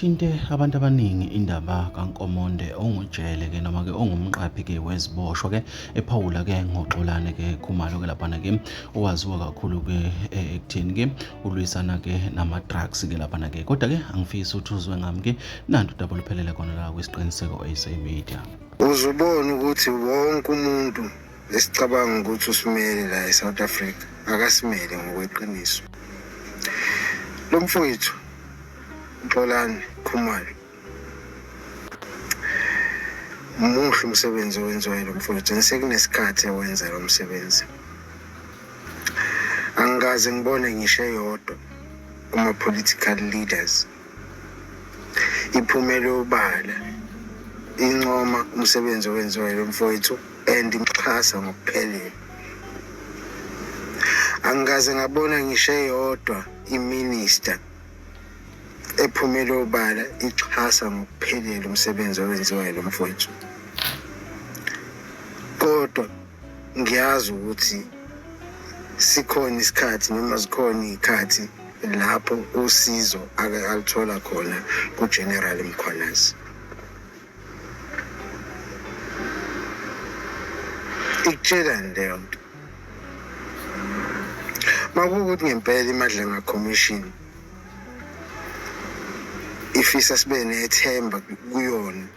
Ithinte abantu abaningi indaba kaNkomonde ongujele-ke noma-ke ongumqaphi-ke weziboshwa-ke ephawula-ke ngoXolani-ke Khumalo-ke laphana-ke owaziwa kakhulu-ke eh, ekutheni-ke ulwisana-ke nama-drugs-ke laphana-ke kodwa-ke angifisi ukuthi uzwe ngami-ke nanti udaba oluphelele khona la kwisiqiniseko sa media uzubona ukuthi wonke umuntu Esicabanga ukuthi usimele la eSouth Africa akasimele ngokweqiniso. Lo mfowethu Nxolani Khumalo muhle umsebenzi owenziwayo lo mfowethu and sekunesikhathi ewenza lo msebenzi. Angikaze ngibone ngisho eyodwa kuma-political leaders iphumele obala incoma umsebenzi owenziwa yilo mfowethu and imxhasa ngokuphelele angikaze ngabona ngisho eyodwa iminista ephumele obala ixhasa ngokuphelele umsebenzi owenziwa yilo mfowethu kodwa ngiyazi ukuthi sikhona isikhathi noma zikhona iy'khathi lapho usizo ake alithola khona kuGeneral Mkhwanazi. Ikutshelani leyo nto? Makuwukuthi ngempela iMadlanga Commission ifisa sibe nethemba kuyona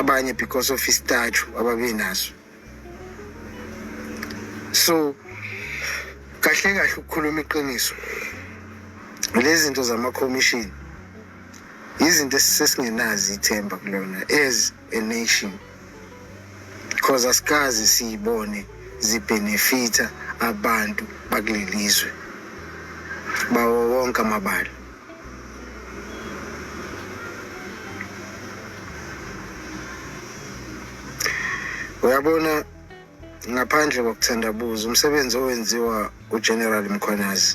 abanye because of istatue ababenaso so kahle kahle ukukhuluma iqiniso lezi zinto zama-commission yizinto esesingenazi ithemba kulona as a nation because asikazi siyibone zibhenefitha abantu bakuleli zwe bawo wonke amabala uyabona ngaphandle kokuthandabuza umsebenzi owenziwa ugeneral mkhwanazi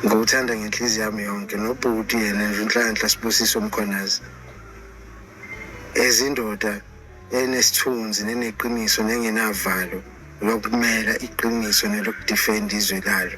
ngowuthanda ngenhliziyo yami yonke nobhuti yena nje unhlanhla sibusiso mkhwanazi ezindoda enesithunzi neneqiniso nengenavalo lokumela iqiniso nelokudifenda izwe lalo